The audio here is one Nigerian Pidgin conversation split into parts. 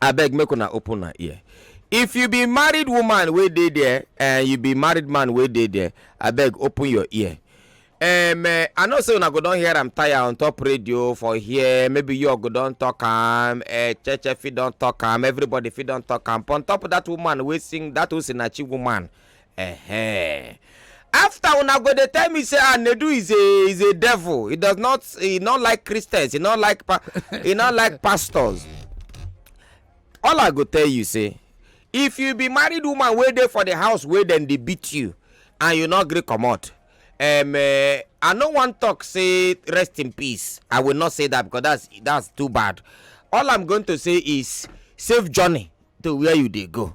abeg make una open una ear if you be married woman wey dey there and you be married man wey dey there abeg open your ear um, eh, i know say una go don hear am tire on top radio for here maybe you go don talk am eh, cheche fit don talk am everybody fit don talk am but on top that woman wey sing that osinachi woman Ehe. After una go dey tell me say ah Nedu is a is a devil. He does not he not like Christians. He not like pa- he not like pastors. All I go tell you say if you be married woman wey dey for the house wey dem dey beat you and you no gree comot um, uh, i no wan talk say rest in peace i will not say that because that's that's too bad all i'm going to say is safe journey to where you dey go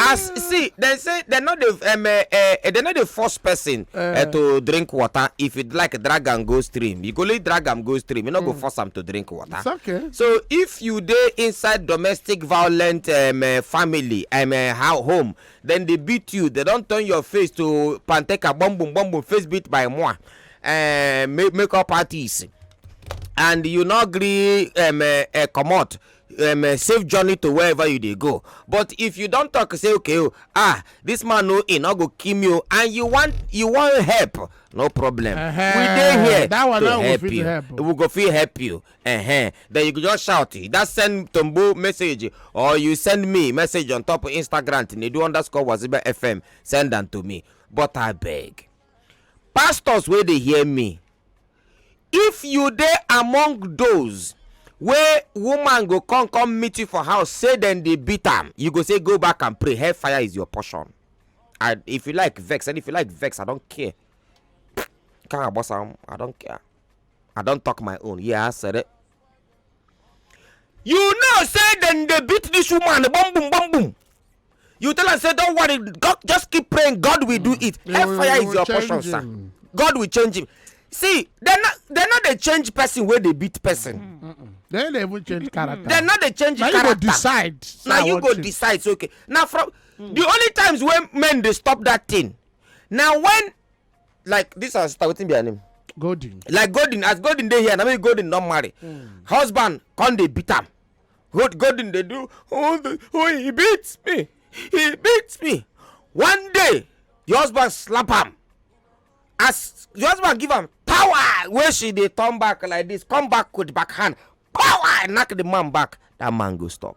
as see dem say dem no dey um, uh, uh, dem no dey force person uh, uh, to drink water if you like drag am go stream you go only drag am go stream you no mm. go force am to drink water It's okay. so if you dey inside domestic violent um, uh, family um, uh, how home then they beat you they don turn your face to panteka bum bum bum bum face beat by moi uh, make, make up artist and you no gree um, uh, uh, comot um, eh, safe journey to wherever you dey go but if you don talk say okay oh, ah this man no he no go kill me oh, and you want you want help no problem uh -huh. we dey here that one to help you help. Oh. we go fit help you uh -huh. then you go just shout that send tombo message or you send me message on top instagram tinedu underscore waziba fm send am to me but abeg pastors wey dey hear me if you dey among those wey woman go come come meet you for house say dem dey beat am you go say go back and pray hellfire is your portion and if you like vex and if you like vex i don't care Kara boss, I'm- i don't care i don talk my own yeah i said it you know say dem dey beat this woman bum bum bum bum you tell am say don worry god just keep praying god will do mm. it hellfire is your portion sir god will change him see dem no dey change person wey dey beat person mm. dem no even change character dem no dey change character na you go decide na you go decide so okay na from mm. the only times wey men dey stop that thing na when like this our sister wetin be her name. golden. like golden as golden dey here na maybe golden don marry. Mm. husband come dey beat am golden dey do oh, the, oh he beat me he beat me one day your husband slap am as your husband give am power wey she dey turn back like this come back with back hand power knack the man back that man go stop.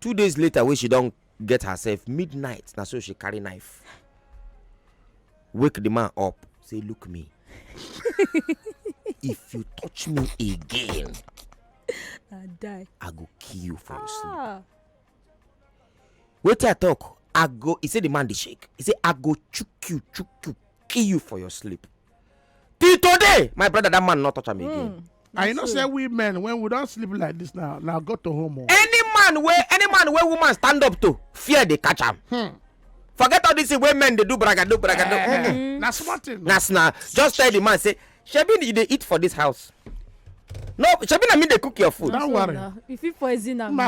two days later wey she don get herself midnight na so she carry knife wake the man up say look me if you touch me again i die i go kill you for your sleep ah wetin i talk i go he say the man dey shake he say i go chook you chook you kill you for your sleep till today my brother that man not touch am again. Mm. I know say we men when we don sleep like this now now go to home. Oh. Any man wey any man wey woman stand up to fear dey catch am. Hmm. Forget all this thing wey men dey do bragado bragado. Uh, eh, mm. Na small thing. Na na just tell the man say shebi you dey eat for this house. No shebi na me dey cook your food. Don't worry. You fit poison am.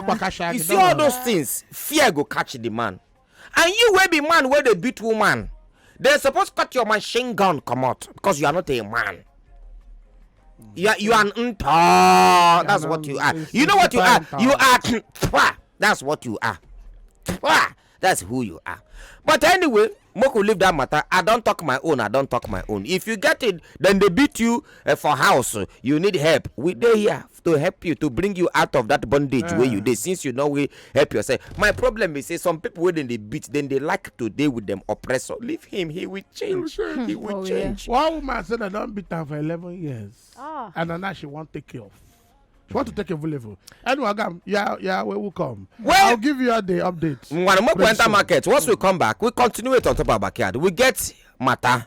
You see all those things fear go catch the man. and you wey be man wey dey beat woman dem suppose cut your machine gun comot because you are not a man you are, you are ntọ that's what you are you know what you are you are twa that's what you are twa that's who you are but anyway make we leave that matter i don talk my own i don talk my own if you get it then they beat you uh, for house you need help we dey here to help you to bring you out of that bondage yeah. where you dey since you know we help yourself my problem is say some people wey dem dey beat then they like to deal with them oppressor leave him he will change he will oh, change. Yeah. one woman said i don't beat her for eleven years ah. and na now she won't take care of she want to take a level anyway agam yeah yeah we will come well i'll give you the update. ngwanu make we enter market once we come back we continue it on top of our backyard we get matter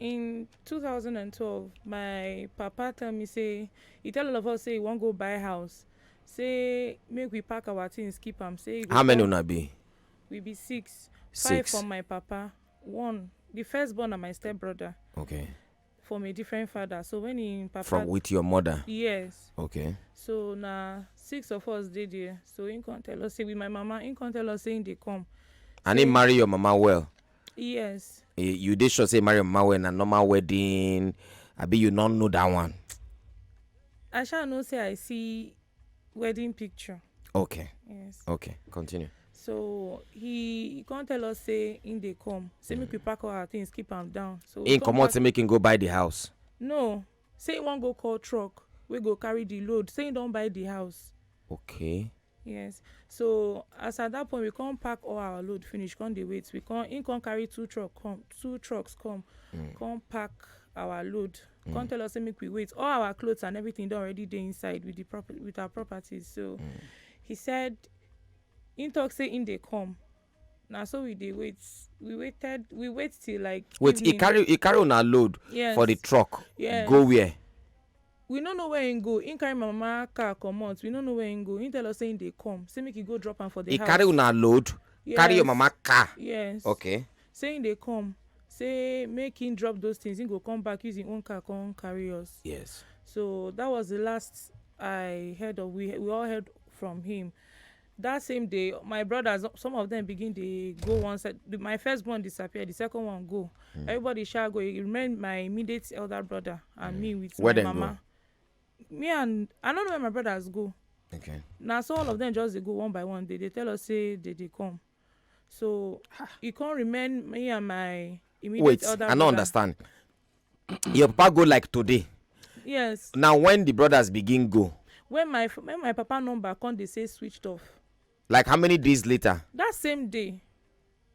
in two thousand and twelve my papa tell me say he tell all of us say he wan go buy house say make we pack our things keep am say he go how many come- una be we be six five Six. from my papa one the first born na my step brother okay from a different father so when him papa from with your mother yes okay so na six of us dey there so him come tell us say with my mama him come tell us say him dey come and he marry your mama well yes Eh, you dey sure say marry mama well na normal wedding abi you no know that one i sha know say i see wedding picture okay yes okay continue so he he come tell us say him dey come say make we pack all our things keep am down so we him come comot back- say make him go buy the house no Say he wan go call truck wey go carry the load. Say he don buy the house. Okay. Yes. So as at that point we come pack all our load finish, come dey wait. We come he come carry two truck come, two trucks come, mm. come pack our load. Mm. Come tell us make we wait. All our clothes and everything don already dey inside with the prop with our properties. So mm. he said he talk say in they come. na so we dey wait we waited we wait till like wait he evening carry he carry una load yes for the truck yes go where we no know where him go him carry my mama car comot we no know where him go him tell us say him dey come say make he go drop am for the he house carry una load yes carry your mama car yes okay say him dey come say make him drop those things him go come back use him own car come carry us yes so that was the last i heard of we we all heard from him that same day my brothers some of them begin dey go one side my first born disappear the second one go mm. everybody shall go it remain my immediate elder brother and mm. me with where my mama go? me and i don't know where my brothers go okay now so all of them just they go one by one they they tell us say they they come so it can't remain me and my immediate wait elder i don't understand your papa go like today yes na when the brothers begin go when my when my papa number come dey say switched off like how many days later that same day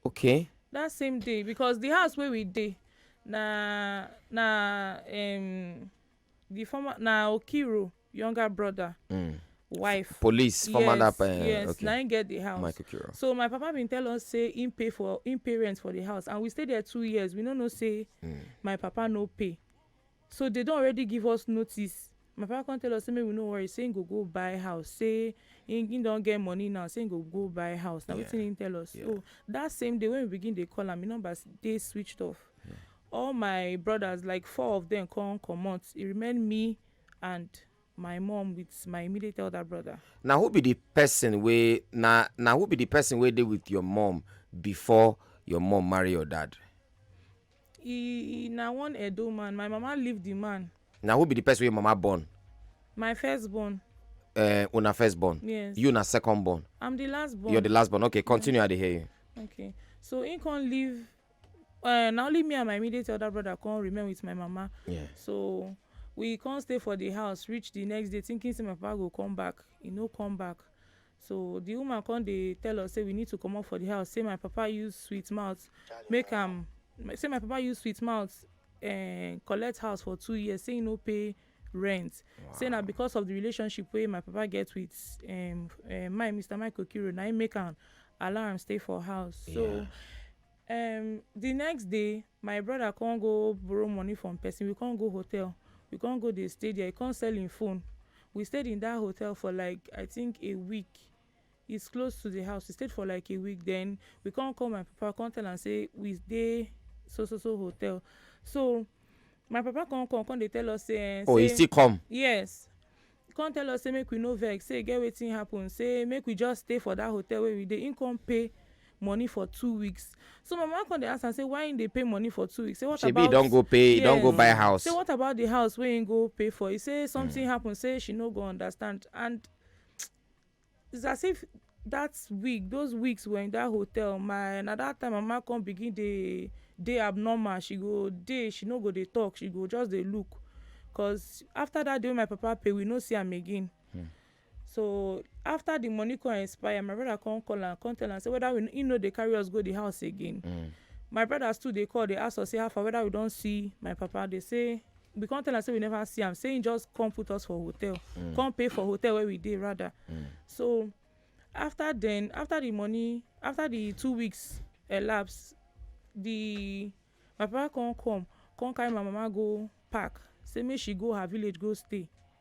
okay that same day because the house wey we dey na na um, the former na okiro younger brother mm. wife police former yes, that uh, yes okay. na him get the house Michael Kiro. so my papa been tell us say him pay for him pay rent for the house and we stay there two years we no know say mm. my papa no pay so they don already give us notice my papa come tell us say make we no worry say him go go buy house say him him don get money now say him go go buy house na yeah. wetin him tell us yeah. so that same day when we begin dey call am him number dey switched off yeah. all my brothers like four of them come comot e remain me and my mom with my immediate elder brother. na who be the person wey na na who be the person wey dey with your mom before your mom marry your dad e e na one edo man my mama leave the man na who be the person wey mama born my first born uh, una first born yes you na second born i'm the last born you're the last born okay continue i dey hear you okay so he come leave uh, na only me and my immediate elder brother come remain with my mama yeah. so we come stay for the house reach the next day thinking say my papa go come back he no come back so the woman come dey tell us say we need to comot for the house say my papa use sweet mouth make am say my papa use sweet mouth uh, collect house for two years say he no pay rent wow. say na because of the relationship wey my papa get with um, uh, my mr michael kiro na im make am allow am stay for house yeah. so um, the next day my brother come go borrow money from person we come go hotel we come go dey stay there he come sell him phone we stayed in that hotel for like i think a week It's close to the house. We stayed for like a week. Then we can't call my papa, can't tell and say we stay so so so hotel. So my papa can't come, can't they tell us say. Eh, oh, say, he still come. Yes. Can't tell us say make we no vex. Say get wetin happen. Say make we just stay for that hotel where we dey. He come pay money for two weeks so my mama come dey ask am say why im dey pay money for two weeks say what Shebi about shebi don go pay yes. don go buy house say what about the house wey im go pay for he say something mm. happen say she no go understand and It's as if that week those weeks were in that hotel my na that time mama come begin dey dey abnormal she go dey she no go dey talk she go just dey look cause after that day wey my papa pay we no see am again mm. so after the money come expire my brother come call am come tell am say whether we, he no dey carry us go the house again mm. my brothers too dey call dey ask us say how far whether we don see my papa dey say we come tell am say we never see am say he just come put us for hotel mm. come pay for hotel where we dey rather mm. so after then after the money after the two weeks elapse the my papa come come come carry my mama go park say make she go her village go stay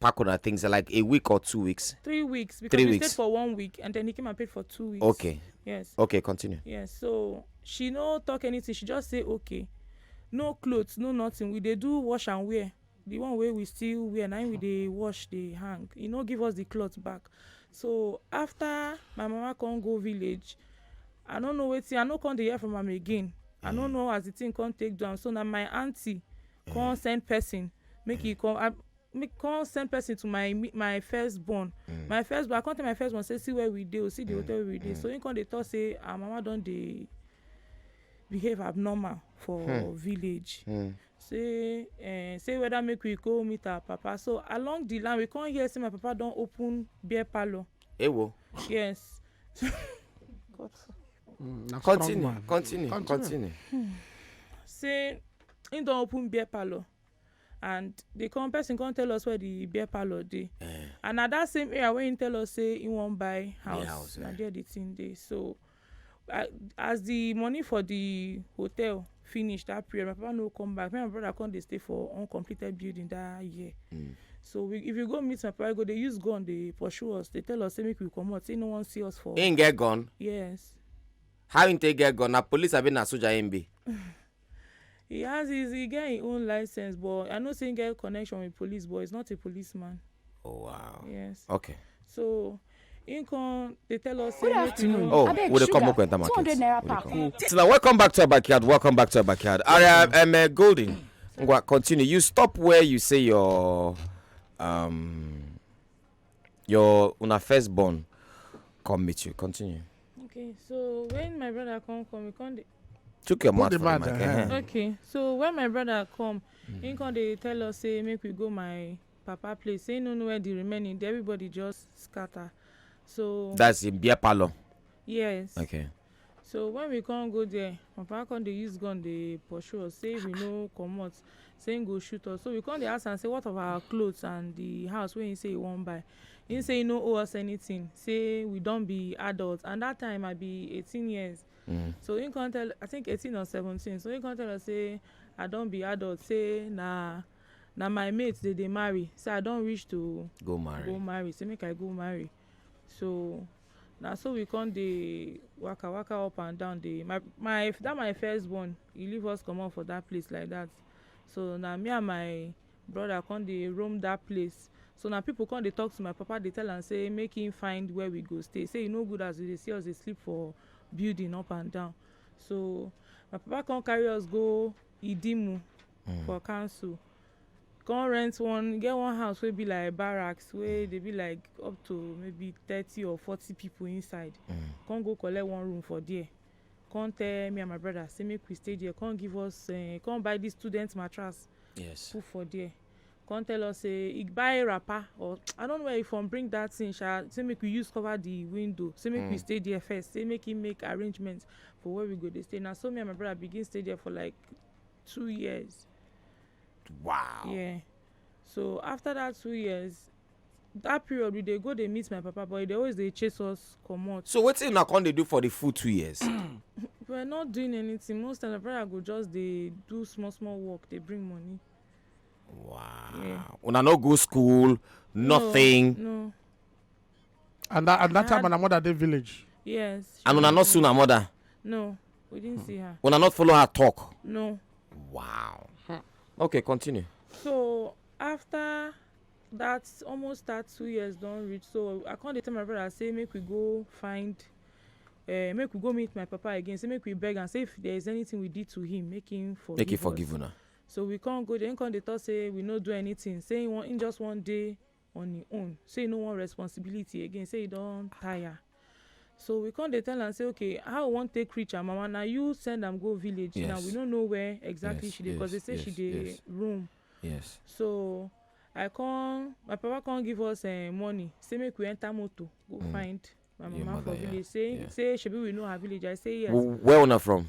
pack on things like a week or two weeks? Three weeks because Three we weeks. stayed for one week and then he came and paid for two weeks. Okay. Yes. Okay, continue. Yes. So she no talk anything. She just say okay. No clothes, no nothing. We they do wash and wear. The one way we still wear, now we they wash, they hang. You know, give us the clothes back. So after my mama come go village, I don't know wetin I no come dey hear from am again. Mm. I no mm. know as the thing come take down. So now my auntie come mm. send person make he come. I, me come send person to my my first born mm. my first born i come tell my first born say see where we dey o oh, see the mm. hotel we dey mm. so him come dey talk say our ah, mama don dey behave abnormal for hmm. village hmm. say uh, say whether make we go meet our papa so along the line we come hear say my papa don open beer parlour. ewo. yes. God. Mm, continue, continue continue continue. Hmm. say him don open beer parlour and the come person come tell us where the beer parlor dey uh, and na that same area wey he tell us say he wan buy house, house na uh. there the thing dey so I, as the money for the hotel finish that period my papa no come back me and my brother come dey stay for uncompleted building that year. Mm. so we if you go meet my papa go dey use gun dey pursue us dey tell us say make we comot say no wan see us for. him get gun. yes. how him take get gun na police abi na soldier him be. He has his, he get his own license, but I know saying get connection with police, but he's not a policeman. Oh wow. Yes. Okay. So him come they tell us say make we know. Oh, Abeg, we dey come up enter market. 200 naira pack. Cool. So now welcome back to our backyard. Welcome back to our backyard. Aria um, uh, Golden. Ngwa, continue. You stop where you say your um your una firstborn come meet you. Continue. Okay, so when my brother come come, he come dey Took your mouth the from the mic. hand. Uh-huh. Okay, so when my brother come, mm. he come dey tell us say make we go my papa place. Say no know where the remaining. Everybody just scatter. So that's in beer parlor. Yes. Okay. So when we come go there, my papa come dey use gun dey pursue us. Say we no comot. Say he go shoot us. So we come dey ask am say what of our clothes and the house wey he say he wan buy him say he no owe us anything say we don be adults and that time i be eighteen years Mm. So he can't tell, I think 18 or 17. So he can't tell us, say, I don't be adult, say, nah, now my mates, they, they marry. So I don't wish to go marry. Go marry. Say, make I go marry. So now so we come the waka waka up and down the my my that my first born he leave us come comot for that place like that so now me and my brother come dey roam that place so now people come dey talk to my papa dey tell am say make him find where we go stay say e no good as we dey see us dey sleep for building up and down so my papa come carry us go idimu mm. for council come rent one get one house wey be like barracks wey dey be like up to maybe thirty or forty people inside mm. come go collect one room for there come tell me and my brother say make we stay there come give us uh, come buy this student mattress yes. put for there come tell us say he buy wrapper or i don't know where he from bring that thing sha say make we use cover the window say make mm. we hmm. stay there first say make him make arrangements for where we go dey stay na so me and my brother begin stay there for like two years. wow yeah so after that two years that period we dey go dey meet my papa but he dey always dey chase us comot. so wetin una come dey do for the full two years. we are not doing anything most times my brother go just dey do small small work dey bring money. Wow. Una no go school, nothing. No. And that, and that time, my mother dey village. Yes. And una not see una mother. No, we didn't see her. Una not follow her talk. No. Wow. Okay, continue. So after that, almost that two years don reach. So I come dey tell my brother say make we go find uh, make we go meet my papa again say make we beg am say if there is anything we did to him make him forgive make him forgive una So we come go there, him come dey talk say we no do anything, say him wan him just wan dey on him own, say he no want responsibility again, say he don tire. So we come dey tell am say okay how we wan take reach her mama, na you send am go village now, we Yes. no know where exactly Yes, she dey cause they yes, say she yes, dey yes. room. Yes. So I come my papa come give us um money say make we enter motor go Mm. find my Your mama for mother, yeah, village, say yeah. say shebi we know her village, I say yes. Wh- Where una from?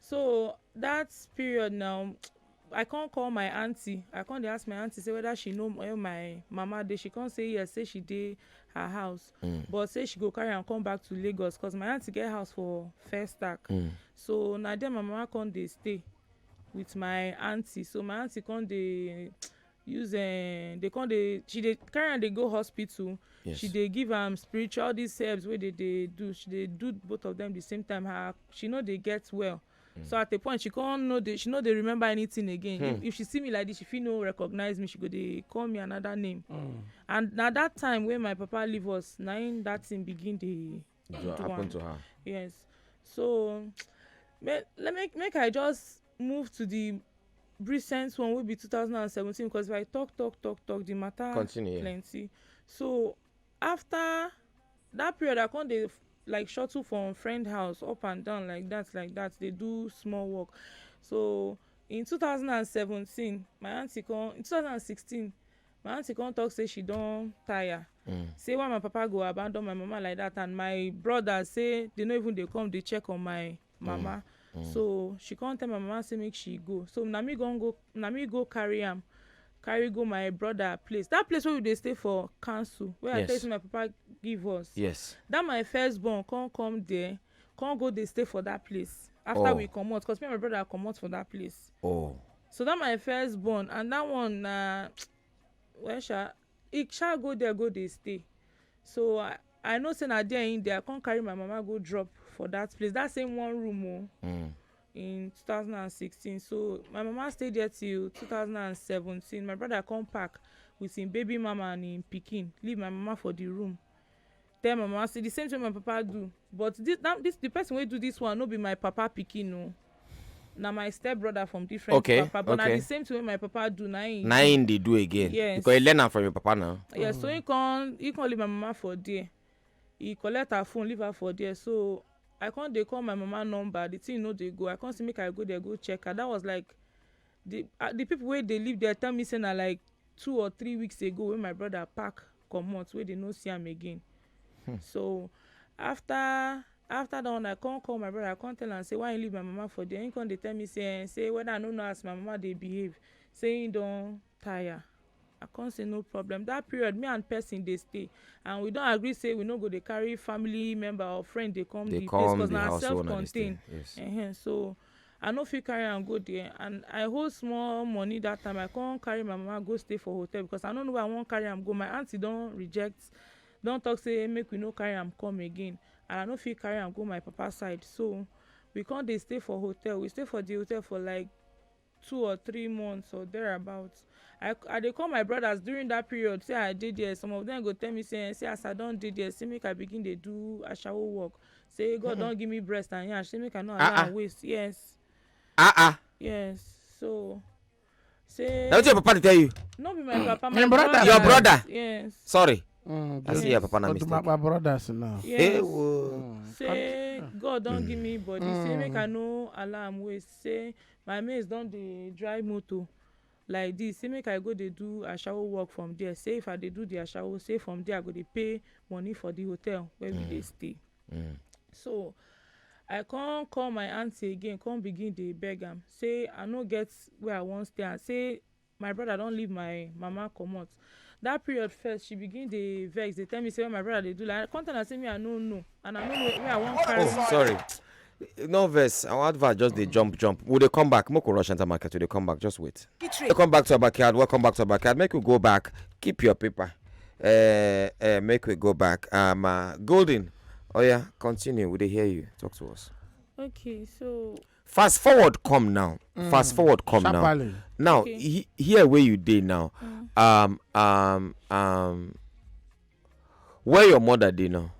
so that period now i come call my aunty i come dey ask my aunty say whether she know where my mama dey she come say yes say she dey her house mm. but say she go carry am come back to lagos cause my aunty get house for first stack mm. so na there my mama come dey stay with my aunty so my aunty come dey use um, they come dey she dey carry am dey go hospital yes. she dey give am spiritual these herbs wey dey dey do she dey do both of them the same time her she no dey get well mm. so at a point she come no dey she no dey remember anything again hmm. if, if she see me like this she fit no recognize me she go dey call me another name mm. and na that time wey my papa leave us na im that thing begin dey What happened to her? Yes. So make, let me make I just move to the recent one will be 2017 because if I talk talk talk talk the matter Continue. plenty. So after that period I come dey like shuttle from friend house up and down like that like that dey do small work. So in 2017 my aunty come in 2016 my aunty come talk say she don tire mm. say why my papa go abandon my mama like that and my brother say they no even dey come dey check on my mama mm. Mm. so she come tell my mama say make she go so na me go go na me go carry am carry go my brother place that place wey we dey stay for council wey yes. i tell you say my papa give us yes that my first born come come there come go dey stay for that place after oh. we comot cause me and my brother comot for that place. Oh. so that my first born and that one na uh, well sha he sha go there go dey stay so i i know say na there him dey i come carry my mama go drop for that place that same one room o. Oh, mm. in 2016 so my mama stay there till 2017 my brother come pack with him baby mama and him pikin leave my mama for the room tell my mama say the same thing wey my papa do but this that this the person wey do this one no be my papa pikin o na my step brother from different Okay, papa but na okay. the same thing wey my papa do na him na him dey do again Yes. because he learn am from your papa now yeah so he come he come leave my mama for there he collect her phone leave her for there so i come dey call my mama number the thing no dey go i come say make i go there go check her that was like the ah the people wey dey live there tell me say na like two or three weeks ago wey my brother pack comot wey dey no see am again hmm. so after after that one i come call my brother i come tell am say why you leave my mama for there he come dey tell me say eh, say whether i no know as my mama dey behave say he don tire i come say no problem that period me and person dey stay and we don agree say we no go dey carry family member or friend dey come They the place come because the na house self wey una dey stay. contained Yes. uh-huh. so i no fit carry am go there and i hold small money that time i come carry my mama go stay for hotel because i no know where i wan carry am go my aunty don reject don talk say make we no carry am come again and i no fit carry am go my papa side so we come dey stay for hotel we stay for the hotel for like two or three months or thereabout i i dey call my brothers during that period say i dey there some of them go tell me say say as i don dey there say make i begin dey do ashawo work say god mm -hmm. don give me breast and yansh say make i no allow uh -uh. waste yes ah uh -uh. yes so say na wetin your papa dey tell you no be my papa my brother your brother yes sorry Mm, I see your papa na mistake. my brothers now. Yes. Hey, whoa. Mm, say God don give me body. Mm. Say make I no allow am waste. Say My mates don dey drive motor like this say make I go dey do ashawo work from there say if I dey do the ashawo say from there I go dey pay money for the hotel where we dey mm. stay mm. so I come call my aunty again come begin dey beg am say I no get where I wan stay and say my brother don leave my mama comot that period first she begin dey vex dey tell me say what my brother dey do like come tell her say me i no know and i no know where i wan carry oh sorry no vex our advert just dey jump jump we dey come back make we rush enter market we dey come back just wait welcome back to our backyard welcome back to our backyard make we go back keep your paper uh, uh, make we go back um, uh, golden oh yeah continue we dey hear you talk to us okay so fast forward come now fast forward come now Sharply. now Okay. he, here where you dey now um um um where your mother dey now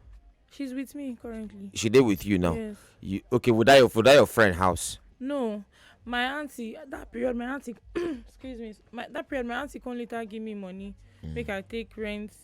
She's with me currently. she dey with you now Yes. you okay would that your would that your friend house No, my auntie at that period, my auntie, excuse me, my, that period, my auntie come later give me money, make I take rent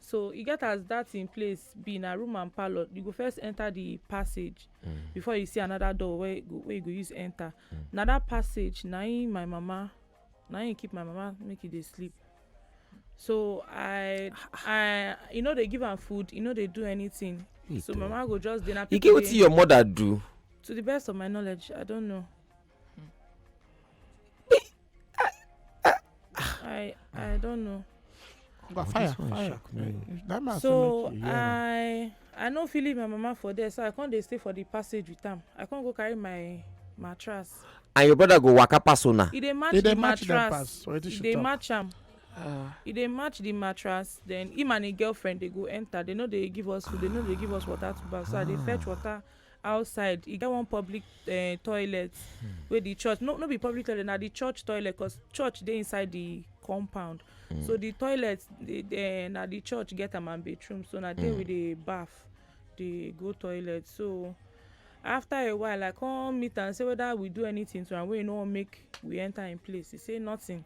So e get as that in place be na room and parlour. You go first enter the passage mm. before you see another door where you go, where you go use enter. Mm. Na that passage na him my mama na him keep my mama make e dey sleep. So I I you know they give am food, you know they do anything. so mama go just dey na. You get wetin your mother do? To the best of my knowledge, I don't know. Hmm. I I don't know. Oga fire fire. Eh, so I I no fit leave my mama for there so I come dey stay for the passage with am. I come go carry my mattress. And your brother go waka pass una. E dey match the mattress. E dey match am. Ah. e dey match the mattress then him and him girlfriend dey go enter they no dey give us food they no dey give us water to baff so i dey fetch ah. water outside e get one public uh, toilet hmm. wey the church no no be public toilet na the church toilet cause church dey inside the compound hmm. so the toilet the, the, eh, na the church get am and bathroom so na there hmm. we dey baff dey go toilet so after a while i come meet am say whether we do anything to am wey no wan make we enter im place he say nothing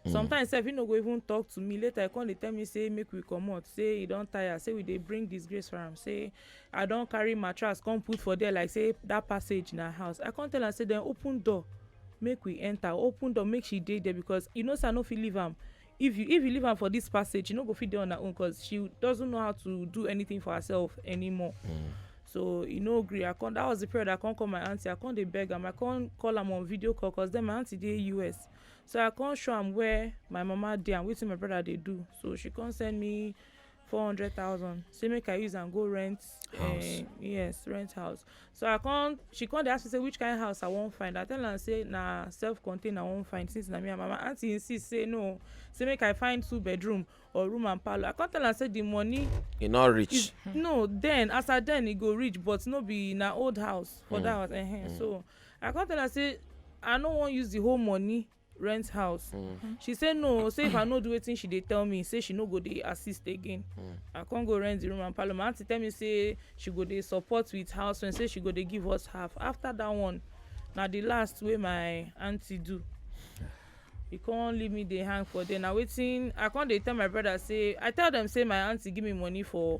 Mm. sometimes sef he no go even talk to me later he come dey tell me say make we comot say he don tire say we dey bring disgrace for am say i don carry mattress come put for there like say that passage na house i come tell am say then open door make we enter open door make she dey there because you know say i no fit leave am if you if you leave am for this passage she no go fit dey on her own because she doesn't know how to do anything for herself anymore. Mm. so e no gree i come that was the period i come call my aunty i come dey beg am i come call am on video call cause then my aunty dey us So I come show am where my mama dey and wetin my brother dey do. So she come send me four hundred thousand say make I use am go rent house. Uh, yes, rent house. So I come she come dey ask me say which kind of house I wan find. I tell am say na self-contained I wan find since na me and my mama. Aunty insist say no, say make I find two bedroom or room and parlour. I come tell am say the money e no reach. Is, no, then as I then e go reach but no be na old house for mm. that house. Uh -huh. mm. So I come tell her say I no wan use the whole money rent house. Mm. She say no, say if I no do wetin she dey tell me, say she no go dey assist again. Mm. I come go rent the room and parlour. My aunty tell me say she go dey support with house rent, say she go dey give us half. After that one, na the last wey my aunty do. He come leave me dey hang for there. Na wetin I come dey tell my brother say I tell them say my aunty give me money for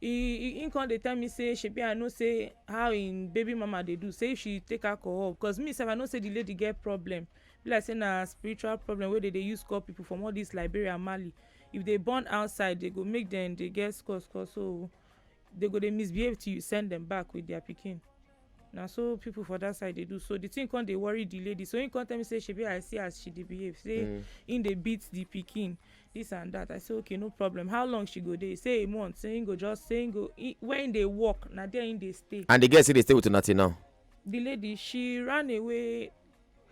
He he come dey tell me say shebi I know say how him baby mama dey do say if she take alcohol cause me sef I know say the lady get problem be like say na spiritual problem wey dem dey use call people from all this Liberia Mali if they born outside they go make them dey get scores scores so they go dey misbehave till you send them back with their pikin. na so people for that side dey do so the thing come dey worry the lady so he come tell me say shebi i see as she dey behave say mm. he dey beat the pikin this and that i say okay no problem how long she go dey say a month say he go just say he go he, when they work na there he dey stay. and the girl still dey stay with una till now. the lady she ran away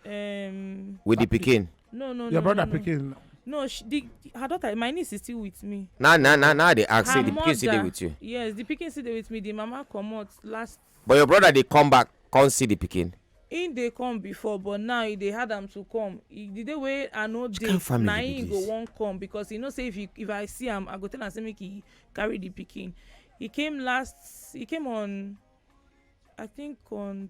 Um, with the pikin. no no your no, brother no, no. pikin. no she, the, her daughter my niece is still with me. na na na na dey ask say the pikin still dey with you. yes the pikin still dey with me the mama comot last. but your brother dey come back come see the pikin. he dey come before but now he dey hard am to come he, the day wey i no dey na him go wan come because he know say if he, if i see am i go tell am say make he carry the pikin he came last he came on i think on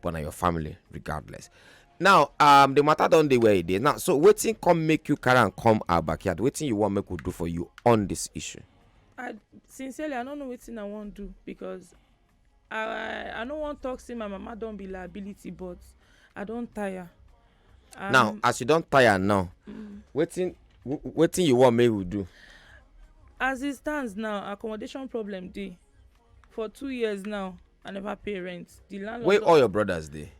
but na your family regardless now um the matter don dey where e dey now so wetin come make you carry am come our backyard wetin you wan make we do for you on this issue. i sincerely i no know wetin i wan do because i i no wan talk say my mama don be liability but i don tire. Um, now as you don tire now mm. wetin mm. wetin you wan make we do. as e stand now accommodation problem dey for two years now i never pay rent the landlord. where all your brothers dey.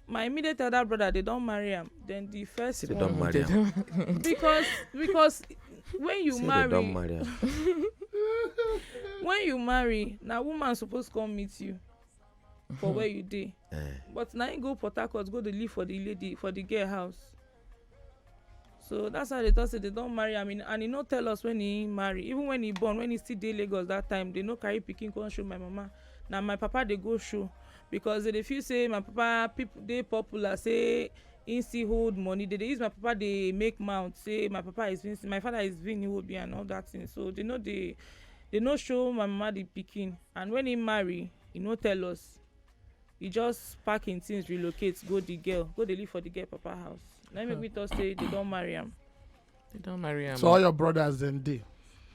my immediate elder brother they don marry am then the first See, one. they don marry am. because because when you See, marry. they don marry am. when you marry na woman suppose come meet you for where you dey. Eh. but na him go port harcourt go dey live for the lady for the girl house. so that's how they talk say they don marry am in, and he no tell us when he marry even when he born when he still dey lagos that time they no carry pikin come show my mama na my papa dey go show because they dey feel say my papa people dey popular say he still hold money they dey use my papa dey make mouth say my papa is being my father is being iwobi and all that thing so they no dey they no show my mama the pikin and when he marry he no tell us he just pack him things relocate go the girl go dey live for the girl papa house na him make me talk say they don marry am. they don marry am. so all your brothers dem dey.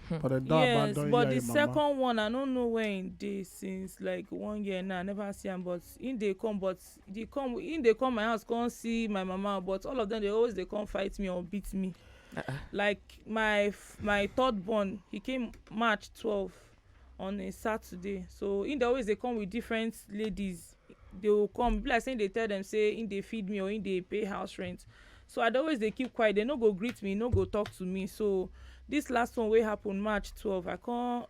Hmm. but dem don yes, abandon but the second one i no know where he dey since like one year now i never see am but he dey come but he come he dey come my house come see my mama but all of them dey always dey come fight me or beat me. Uh -uh. like my my third born he came march twelve on a Saturday so him dey always dey come with different ladies dey go come e be like say him dey tell dem say him dey feed me or him dey pay house rent so I dey always dey keep quiet dey no go greet me no go talk to me so this last one wey happen march twelve I come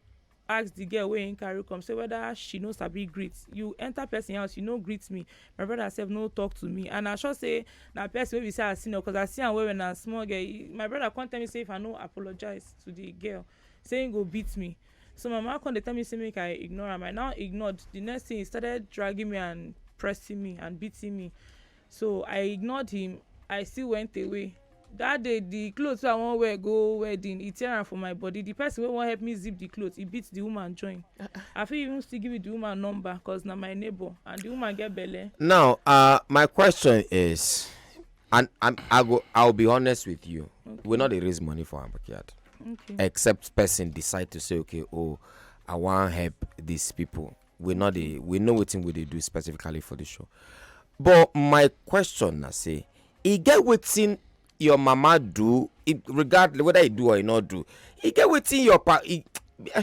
ask the girl wey him carry come say whether she no sabi greet you enter person house you no greet me my brother sef no talk to me and I sure say na person wey be say I senior cause I see am well well na small girl my brother come tell me say if I no apologize to the girl say he go beat me so my mama come dey tell me say make i ignore am i now ignored the next thing he started dragging me and pressing me and beating me so i ignored him i still went away that day the clothes wey i wan wear go wedding he tear am for my body the person wey wan help me zip the clothes he beat the woman join i fit even still give you the woman number cause na my neighbor and the woman get belle. now uh, my question is and I'm, I go I'll be honest with you. Okay. We no dey raise money for our backyard. Okay. Except person decide to say okay oh I wan help these people. We no dey we know wetin we dey do specifically for the show. But my question na say e get wetin your mama do e, regardless whether e do or e no do e get wetin your pa e, eh,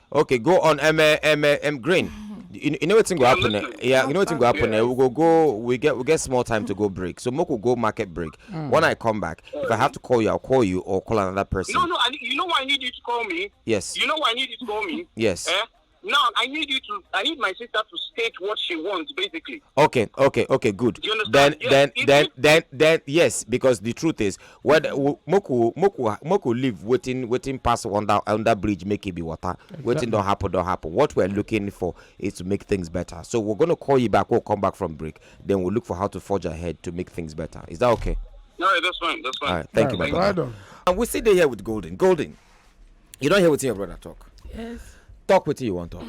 okay go on um, uh, um, uh, um, green you, you know wetin go happen eh? yeah you know wetin go happen eh? we go go we get we get small time to go break so make we go market break mm. when i come back if i have to call you i'll call you or call another person no no I, you know why i need you to call me yes you know why i need you to call me yes eh? now I need you to I need my sister to state what she wants basically. Okay, okay, okay, good. Then yes, then then, then then yes, because the truth is well the- wo- make we make we make we leave wetin wetin pass under under bridge make e be water wetin don happen don happen what we are looking for is to make things better so we're gonna call you back we'll come back from break then we'll look for how to forge ahead to make things better is that okay All right, that's fine. That's fine. all right thank you my Well brother done. and we still dey here with golden golden you don hear wetin your brother talk Yes. talk wetin you wan talk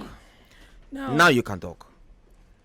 Now, now you can talk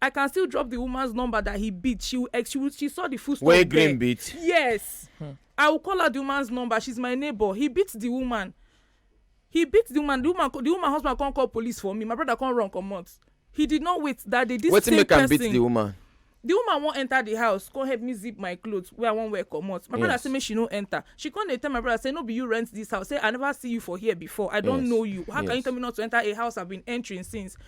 I can still drop the woman's number that he beat. She will, she, will, she saw the full story. Where Green beat? Yes. Hmm. I will call her the woman's number. She's my neighbor. He beat the woman. He beat the woman. The woman, the woman husband can't call police for me. My brother can't run come out. He did not wait that day. This What's same make person, beat the woman? the woman wan enter the house come help me zip my cloth wey i wan wear comot my yes. brother say make she no enter she come dey tell my brother say no be you rent this house say i never see you for here before i don yes. know you how yes. can you tell me not to enter a house i been entering since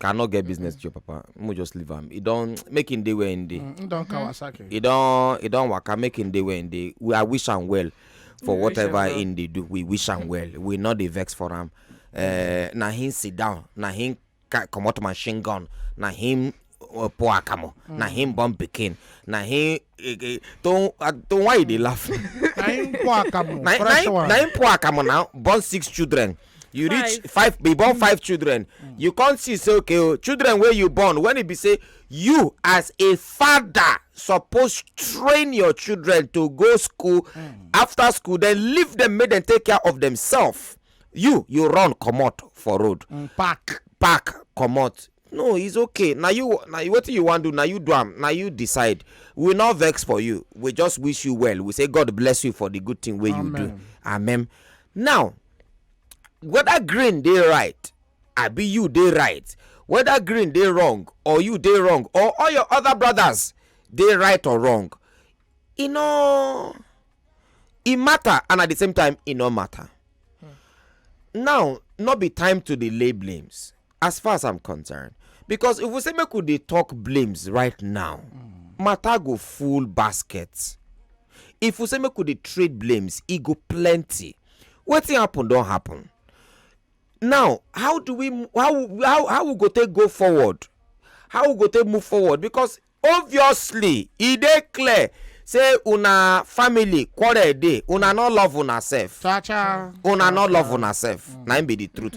cannot get business to your papa mo just leave am e don make him dey where him dey mm, don kawasaki e don e don waka make him dey where him dey we i wish am well for whatever him dey do we wish am well we no dey vex for am eh, na him sit down na him comot machine gun na him uh, poor akamo mm. na him born pikin na him eh, eh, to uh, to why you dey laugh na him poor akamo na him na him poor akamo now born six children you five. reach five be born five children mm. you come see say okay o oh, children wey you born when e be say you as a father suppose train your children to go school mm. after school then leave them make them take care of themselves you you run comot for road mm, park park comot no it's okay na you na wetin you wan do na you do am na you decide we no vex for you we just wish you well we say god bless you for the good thing wey you do amen now whether green dey right abi you dey right whether green dey wrong or you dey wrong or all your other brothers dey right or wrong e no e matter and at the same time e no matter hmm. now no be time to dey lay blames as far as i'm concerned because if we say make we dey talk blames right now matter go full basket if we say make we dey trade blames e go plenty wetin happen don happen now how do we how how how we go take go forward how we go take move forward because obviously e dey clear say una family quarrel dey una no love una sef Cha cha. una no love una sef na im be the truth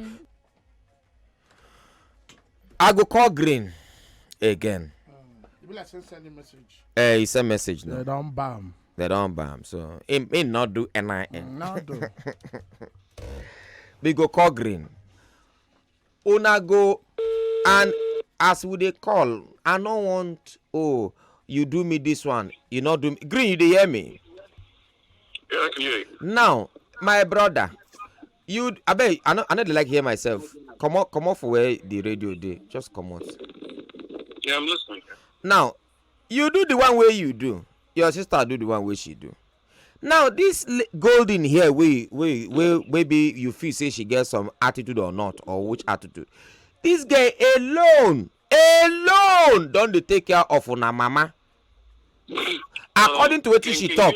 i go call green again e be like say send a message. eh he send message now. they don bam. they don bam so he he no do nin. Mm, no do. we go call green una go and as we dey call i no want oh you do me this one you no do me green you dey hear me. Yeah, I can hear you. now my brother you abeg i no i no dey like hear myself comot comot for where the radio dey just comot. Yeah, I'm listening. now you do the one wey you do your sister do the one wey she do now this l- golden here wey wey wey wey be you feel say she get some attitude or not or which attitude this girl alone alone don dey take care of una mama according to wetin she talk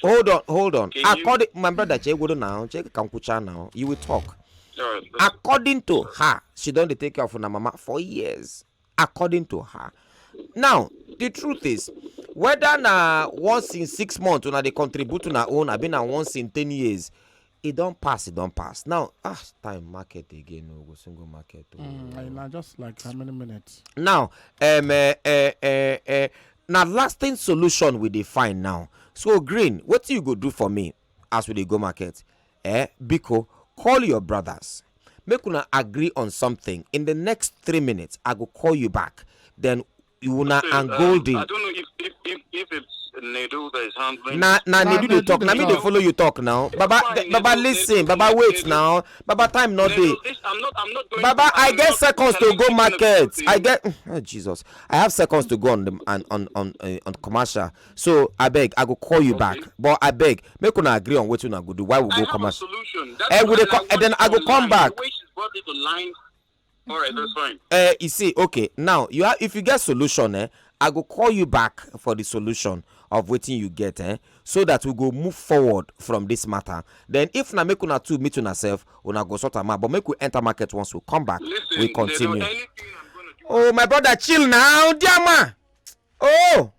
hold on hold on according my brother chegworo now chege kankwucha now you will talk according to her she don dey take care of una mama for years according to her now the truth is whether na once in six months una dey contribute una own abi na once in ten years e don pass e don pass now ah time market again o go soon go market o. Mm, na just like how many minutes. now um, uh, uh, uh, uh, na lasting solution we dey find now so green wetin you go do for me as we dey go market eh biko call your brothers make una agree on something in the next three minutes i go call you back then una and um, golden. i don't know if if if, if it's Nedu that is handling. Na na Nedu dey talk. Na me dey follow you talk now. Baba Baba listen. Baba wait now. Baba time not dey. I'm not I'm not going. Baba I get seconds to go market. I get oh, Jesus. I have seconds to go on the on on on, uh, on commercial. So I beg I go call you back. But I beg make una agree on wetin una go do. Why we go commercial? I have a solution. That's eh, we dey co- eh, then I go come back. The way she's brought it to line All right, that's fine. Uh, you see, okay, now you have if you get solution, eh, I go call you back for the solution of waiting you get, eh, so that we go move forward from this matter. Then if na make una two meet una self, una go sort am out. But make we enter market once we come back, Listen, we continue. Oh my brother, chill now, dear man. oh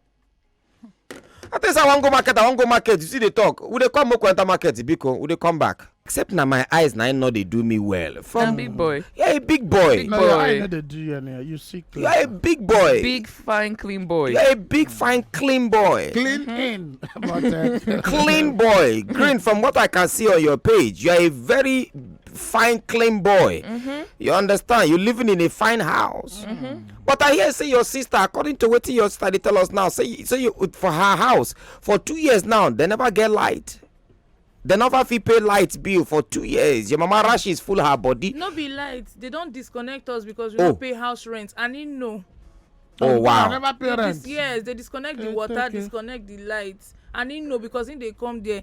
i think say i wan go market i wan go market you see dey talk we dey come make we enter market biko we dey come back. except na my eyes na im no dey do me well. from na big boy. you are a big boy. big no, boy. your eye no dey do you anyhow you see clean. you are a big boy. big fine clean boy. you are a big fine clean boy. clean mm -hmm. in. but, uh, clean boy green from what i can see on your page you are a very fine clean boy. Mm -hmm. you understand you living in a fine house. Mm -hmm. but i hear say your sister according to wetin your sister dey tell us now say you- say you for her house for two years now they never get light they never fit pay light bill for two years your mama rashes full her body no be light they don disconnect us because we Oh. no pay house rent and he know oh I wow never pay They rent. dis- yes they disconnect the Eh, water okay. disconnect the light and he know because he dey come there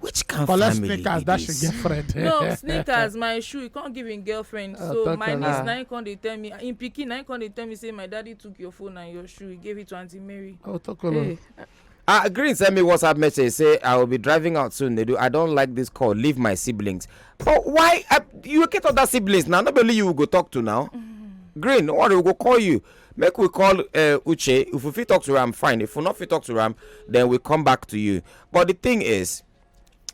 which kind Collect family sneakers, that should get friend. no sneakers my shoe he come give him girlfriend ah, so my niece ah. na him come dey tell me him pikin na him come dey tell me say my daddy took your phone and your shoe he gave it to aunty mary. oh tokolo. Hey. Uh, Green send me WhatsApp message say I will be driving out soon. They do. I don't like this call. Leave my siblings. But why uh, you get other siblings now? Not only you will go talk to now. Mm. Green, no worry, we go call you. Make we call uh, Uche. If we fit talk to Ram, fine. If we not fit talk to Ram, then we come back to you. but the thing is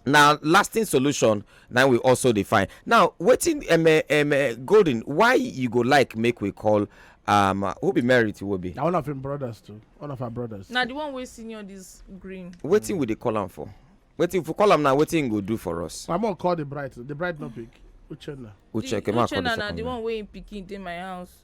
na lasting solution na we also dey find now wetin um, eh, um, eh, golden why you go like make we call um, uh, who be married to Obi? Now one of him brothers too. One of our brothers. Now the one we senior this green. Waiting mm. with the column for. Waiting for column now. Waiting go do for us. I'm gonna call the bride. The bride no pick. Uchenna. Uchenna. Uchenna now the one we picking in my house.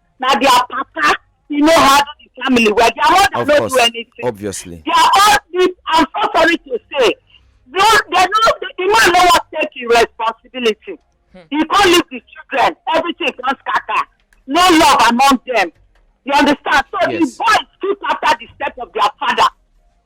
na their papa he no handle the family well their mother of no course. do anything obviously their own sleep i'm so sorry to say no they no the, the man no wan take him responsibility hmm. he come leave the children everything come scatter no love among them you understand so yes. the boys keep after the step of their father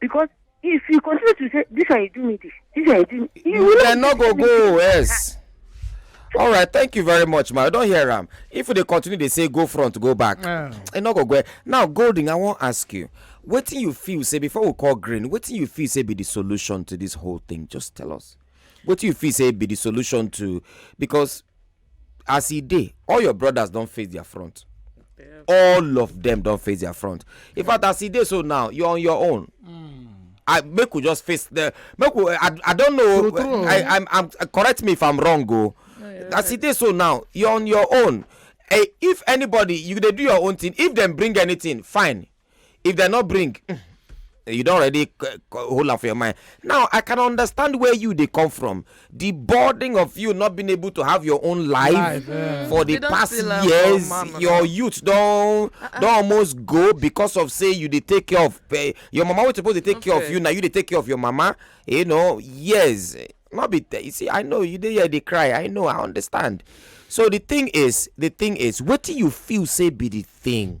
because if you continue to say this one you do me this this one you do me you will dem no go go yes all right thank you very much ma i don hear am if we dey continue dey say go front go back e no go go now golden i wan ask you wetin you feel say before we call green wetin you feel say be the solution to this whole thing just tell us wetin you feel say be the solution to because as e dey all your brothers don face their front all of them don face their front in fact as e dey so now you're on your own mm. I make we just face the make we I, I don't know true, I, I'm, I'm correct me if I'm wrong go oh. no, as right. it is so now you're on your own hey, eh, if anybody you dey do your own thing if dem bring anything fine if dem no bring mm, you don already hold am for your mind now i can understand where you dey come from the burden of you not being able to have your own life, life yeah. for the past years your youth don uh -uh. don almost go because of say you dey take care of uh, your mama wey suppose dey take okay. care of you na you dey take care of your mama you know years no be you see i know you dey here dey cry i know i understand so the thing is the thing is wetin you feel say be the thing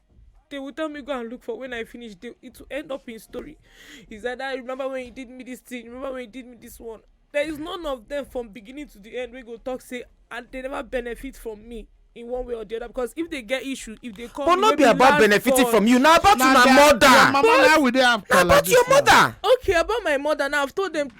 they will tell me go and look for when I finish. They, it will end up in story. Is that I remember when you did me this thing? Remember when you did me this one? There is none of them from beginning to the end. We go talk say and they never benefit from me in one way or the other because if they get issue if they come. but no be about benefiting from you na about una mother. your mama na we dey have na about your mother. okay about my mother now i've told them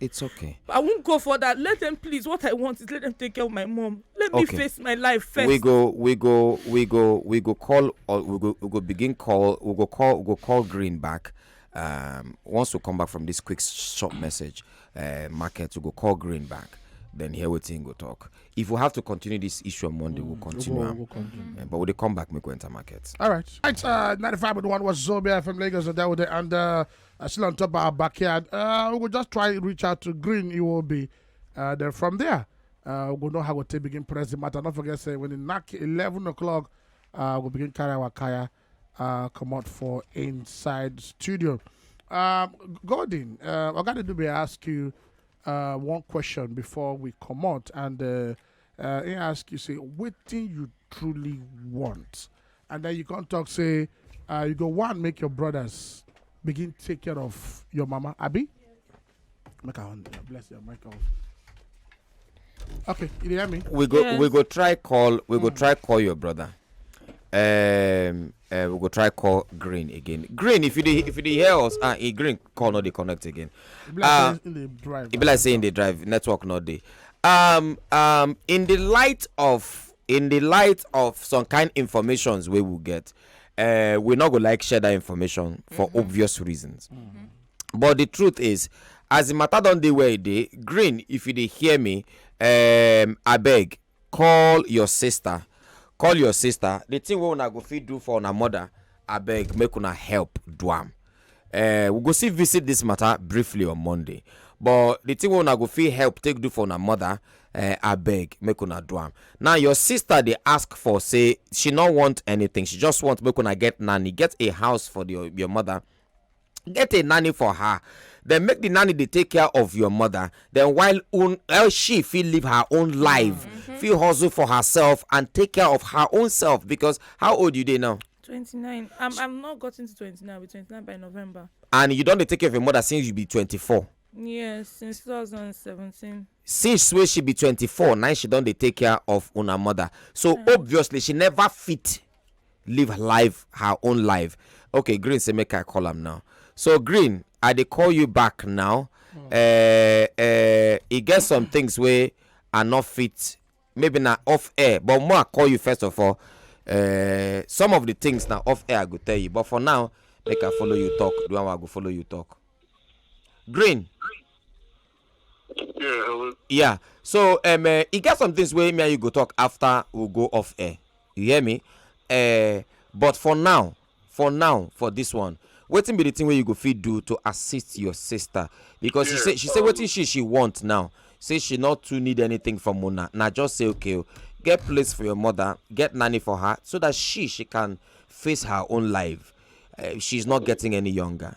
It's okay. I won't go for that. Let them please. What I want is let them take care of my mom. Let me face my life first. We go, we go, we go, we go call or we go we go begin call, we go call we go call Green back. Um once we come back from this quick short message, uh market, we go call Green back. Then here we think go talk. If we have to continue this issue on Monday, we'll mm. continue. We'll, we'll continue. Uh, but we'll come back, make we enter market. All right. All right, uh 95.1 was Zobia from Lagos and that was the and uh Uh, still on top of our backyard. Uh, we will just try reach out to Green Iwobi. Uh, then from there, uh, we know how we take begin press the matter. Don't forget, say when it knock 11 o'clock, uh, we'll begin carry our kaya, uh, come out for inside studio. Um, Gordon, uh, I got to do be ask you uh, one question before we come out, and uh, uh, he ask you say wetin you truly want and then you come talk say uh, you go wan make your brothers begin take care of your mama abi make i bless your mic off. okay you hear me. we go yes. we go try call we go mm. try call your brother um, Uh, we go try call Green again. Green, if you dey if you dey hear us, ah, uh, Green call not dey connect again. It be like uh, in the drive. It be like saying the drive network not dey. Um, um, in the light of in the light of some kind informations we will get, uh, we not go like share that information for mm -hmm. obvious reasons. Mm -hmm. But the truth is, as the matter don dey where e dey, Green, if you dey hear me, um, abeg call your sister call your sister the thing wey una go fit do for una mother abeg make una help do am uh, we go still visit this matter briefly on monday but the thing wey una go fit help take do for una mother uh, abeg make una do am now your sister dey ask for say she no want anything she just want make una get nanny get a house for the, your mother get a nanny for her then make the nanny dey take care of your mother then while un, uh, she fit live her own life mm-hmm. fit hustle for herself and take care of her own self because how old you dey now. twenty-nine i'm i'm not gotten to twenty-nine i'll be twenty-nine by november. and you don dey take care of your mother since you be twenty-four. yes since two thousand and seventeen. since wey she be twenty-four na she don dey take care of una mother so mm. obviously she never fit live live her own life okay green say make i call am now so green i dey call you back now uh, uh, e get some things wey i no fit maybe na off air but more i call you first of all uh, some of the things na off air i go tell you but for now make i follow you talk the one wey i go follow you talk green Yeah, hello. Yeah. So um, uh, e get some things wey me and you go talk after we go off air. You hear me? Uh, but for now, for now, for this one, wetin be the thing wey you go fit do to assist your sister? Because she Yeah, say she say um, wetin she she want now. Say she not too need anything from una. Na just say okay, o, get place for your mother, get nanny for her, so that she she can face her own life. Uh, she's not getting any younger.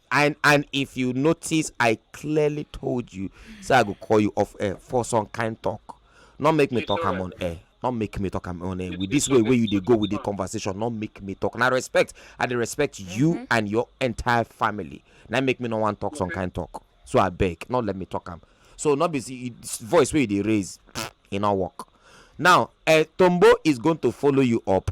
and and if you notice i clearly told you say i go call you off air for some kind talk no make me talk am on air no make me talk am on air with this way wey you dey go with the conversation no make me talk na respect i dey respect you mm-hmm. and your entire family na make me no wan talk some kind talk so abeg no let me talk am so no be voice wey you dey raise e no work now eh, tombo is going to follow you up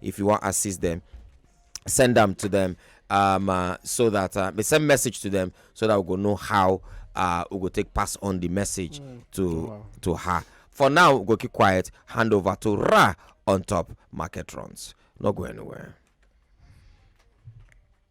if you want assist them send them to them um, uh, so that uh, they send message to them so that we go know how uh, we go take pass on the message mm. to wow. to her for now we go keep quiet hand over to ra on top market runs not go anywhere